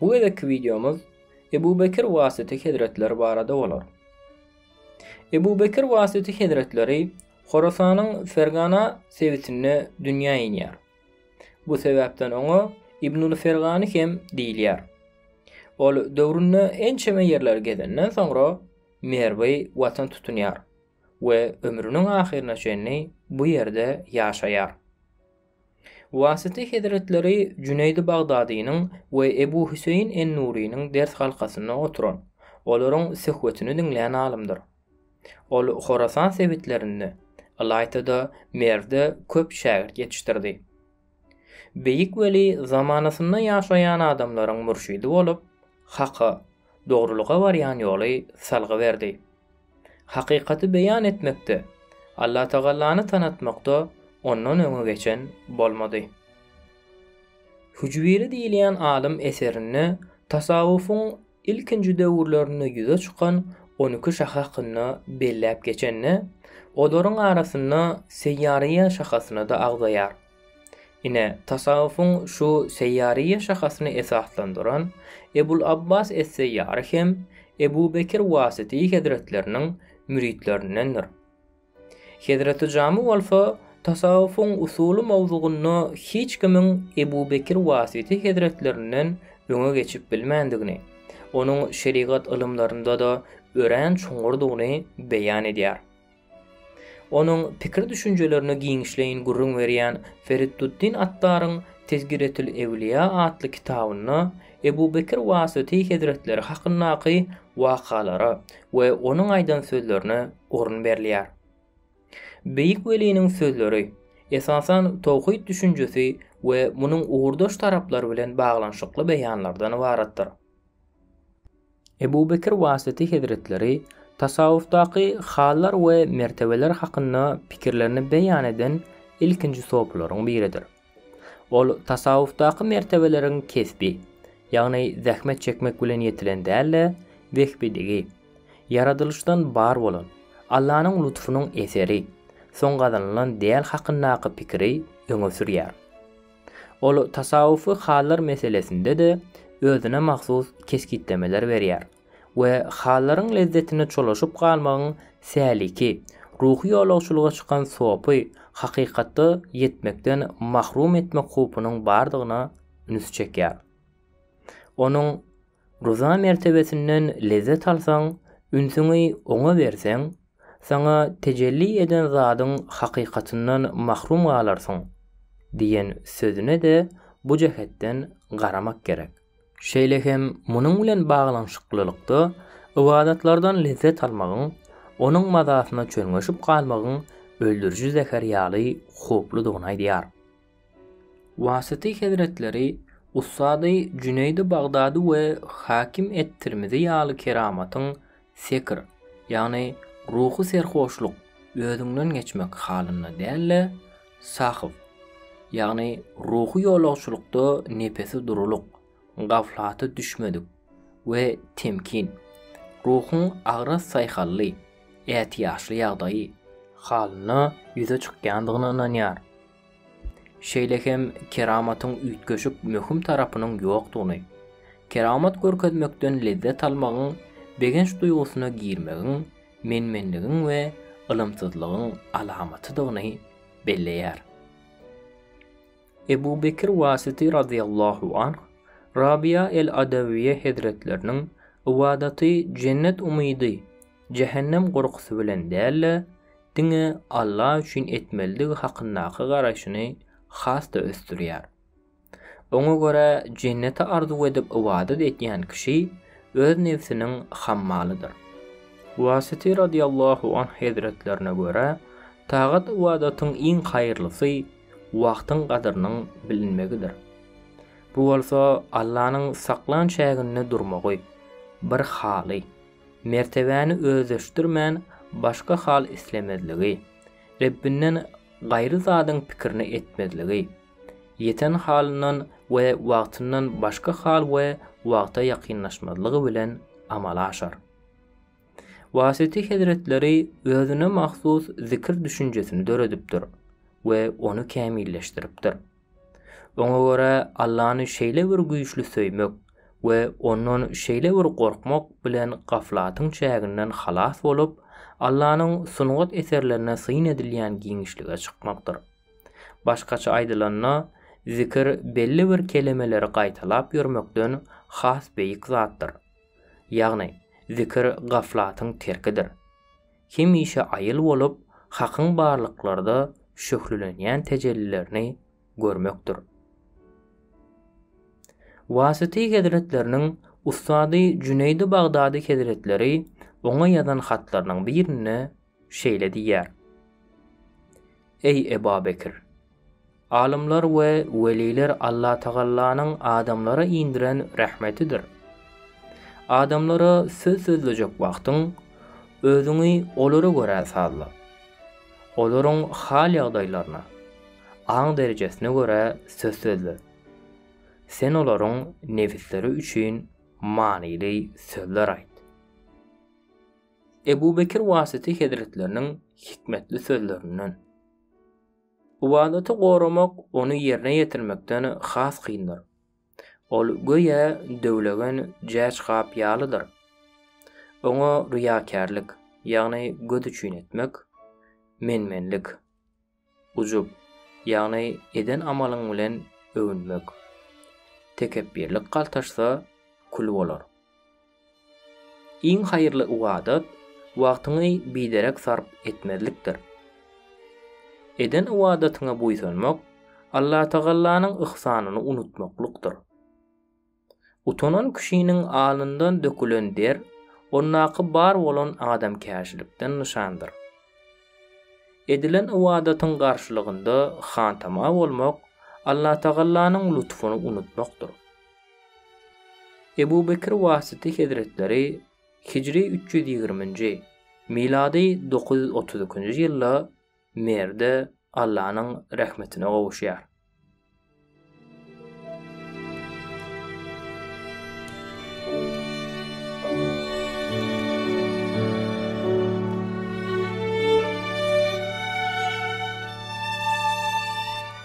Bu gezekki wideomyz Ebu Bekir Wasyty hezretleri barada bolar. Ebu Bekir Wasyty hezretleri Horasanyň Fergana sebitinde dünýä inýär. Bu sebäpden oňa Ibnul Fergany hem diýilýär. Ol döwründe ençeme ýerleri gezenden soňra Merwi watan tutunýar we ömrüniň ahyryna çenli bu ýerde ýaşaýar. Wasyty hezretleri Jüneýdi Bagdadynyň we Ebu Hüseýin en-Nurynyň ders halkasynda oturan, olaryň söhbetini diňlän alymdyr. Ol Horasan sebitlerinde, ylaýta-da Merwde köp şägirt ýetişdirdi. Beýik weli zamanasynda ýaşaýan adamlaryň mürşidi bolup, haka, dogrulyga barýan ýoly salgy berdi. Hakykaty beýan etmekde, Allatagalany tanatmakda ondan öňe geçen bolmady. Hüjwiri diýilýän alym eserinde tasawwufyň ilkinji döwürlerinde ýüze çykan on iki şahy hakynda belläp geçende, olaryň arasynda Seýýariýýe şahasyny-da agzaýar. Ine, tasawwufyň şu seýýaryýe şahasyny esaslandyran Ebul Abbas es-Seýýary hem Ebu Bekir Wasyty hezretleriniň müritlerindendir. Hezreti Jamy bolsa tasawwufyň usuly mowzugynda hiç kimiň Ebu Bekir Wasyty hezretlerinden öňe geçip bilmändigini, onuň şerigat ylymlarynda-da örän çuňňurdygyny beýan edýär. Onuň pikir-düşünjelerine giňişleýin gürrüň berýän Feritduddin Attaryň Tezkiretül-Ewliýa atly kitabynda Ebu Bekir Wasyty hezretleri hakyndaky wakalara we onuň aýdan sözlerine orun berilýär. Beýik weliniň sözleri, esasan, towhid düşünjesi we munuň ugurdaş taraplary bilen baglanyşykly beýanlardan ybaratdyr. Ebu Bekir Wasyty hezretleri tasawwufdaky hallar we mertebeler hakynda pikirlerini beýan eden ilkinji sopylaryň biridir. Ol tasawwufdaky mertebeleriň kesbi, ýagny zähmet çekmek bilen ýetilen däl-de, wehbidigi, ýaradylyşdan bar bolan, Allanyň lutfunyň eseri, soň gazanylan däl hakyndaky pikiri öňe sürýär. Ol tasawwufy hallar meselesinde-de özüne mahsus kesgitlemeler berýär we hallaryň lezzetine çolaşyp galmagyň säliki, ruhy ýolagçylyga çykan sopy hakykatda ýetmekden mahrum etmek howpunyň bardygyna ünsi çekýär. Onuň. Ryza mertebesinden lezzet alsaň, ünsüňi oňa berseň, saňa tejelli eden zadyň hakykatyndan mahrum galarsyň diýen sözüne-de bu jähetden garamak gerek. Şeýle hem munuň bilen baglanyşyklylykda ybadatlardan lezzet almagyň, onuň mazasyna çölňeşip galmagyň öldüriji zäher ýaly howpludygyny aýdýar. Wasyty hezretleri ussady Jüneýdi Bagdady we Hakim et-Tirmizi ýaly keramatyň sekr, ýagny ruhy serhoşlyk, özüňden geçmek halynda däl-de, sahw, ýagny ruhy ýolagçylykda nepesi durulyk, gaflata düşmedik, we temkin, ruhuň agras saýhally, ätiýaçly ýagdaýy, halynda ýüze çykýandygyna ynanýar. Şeýle hem keramatyň üýtgeşik möhüm tarapynyň ýokdugyny, keramat görkezmekden lezzet almagyň, begenç duýgusyna girmegiň, men-menligiň we ylymsyzlygyň alamatydygyny belleýär. Ebu Bekr Wasiti razyýallahu anh Rabyýa el-Adawyýe hezretleriniň ybadaty jennet umydy, jähennem gorkusy bilen däl-de, diňe Alla üçin etmelidigi hakyndaky garaýşyny has-da ösdürýär. Oňa görä, jenneti arzuw edip ybadat edýän kişi öz nebsiniň hammalydyr. Wasyty radyllahu anh hezretlerine görä, tagat-ybadatyň iň haýyrlysy wagtyň gadyrynyň bilinmegidir. Bu bolsa Allanyň saklan çäginde durmagy bir haly. Mertebäni özleşdirmän başga hal islemezligi, Rebbinden gaýry zadyň pikirini etmezligi, ýeten halyndan we wagtyndan başga hal we wagta ýakynlaşmazlygy bilen amala aşar. Wasyty hezretleri özüne mahsus zikr düşünjesini döredipdir we ony kämilleşdiripdir. Oňa görä Allany şeýle bir güýçli söýmek we Ondan şeýle bir gorkmak bilen gaflatyň çäginden halas bolup, Allanyň sungat eserlerine syn edilýän giňişlige çykmakdyr. Başgaça aýdylanda, zikir belli bir kelemeleri gaýtalap ýörmekden has beýik zatdyr. Ýagny, zikir gaflatyň terkidir. hemişe aýyl bolup, Hakyň barlyklarda şöhlelenýän tejellilerini görmekdir. Wasyty hezretleriniň ussady Jüneýdi Bagdady hezretleri oňa ýazan hatlarynyň birinde şeýle diýýär, Eý Eba Bekir! Alymlar we weliler Allatagalanyň adamlara indiren rehmetidir. Adamlara söz sözlejek wagtyň, özüňi olara görä sazla. Olaryň hal-ýagdaýlaryna, aň derejesine görä söz sözle. Sen olaryň nebisleri üçin manyly sözler aýt. Ebu Bekir Wasyty hezretleriniň hikmetli sözlerinden. Ybadaty goramak ony ýerine ýetirmekden has kyndyr. Ol göýä döwlegen jäç gap ýalydyr. Oňa ryýakärlik, ýagny göz üçin etmek, men-menlik, ujup, ýagny eden amalyň bilen öwünmek, tekepbirlik galtaşsa, kül bolar. Iň haýyrly ybadat wagtyňy biderek sarp etmezlikdir. Eden ybadatyňa buýsanmak Allatagallanyň yhsanyny unutmaklykdyr. Utanan kişiniň alnyndan dökülen der ondaky bar bolan adamkärçilikden nyşandyr. Edilen ybadatyň garşylygynda hantama bolmak Allatagallanyň lutfuny unutmakdyr. Ebu Bekr Wasyty hezretleri hijri üç ýüz ýigriminji, milady dokuz ýüz otuz ikinji ýylda Merde Allanyň rehmetine gowuşýar.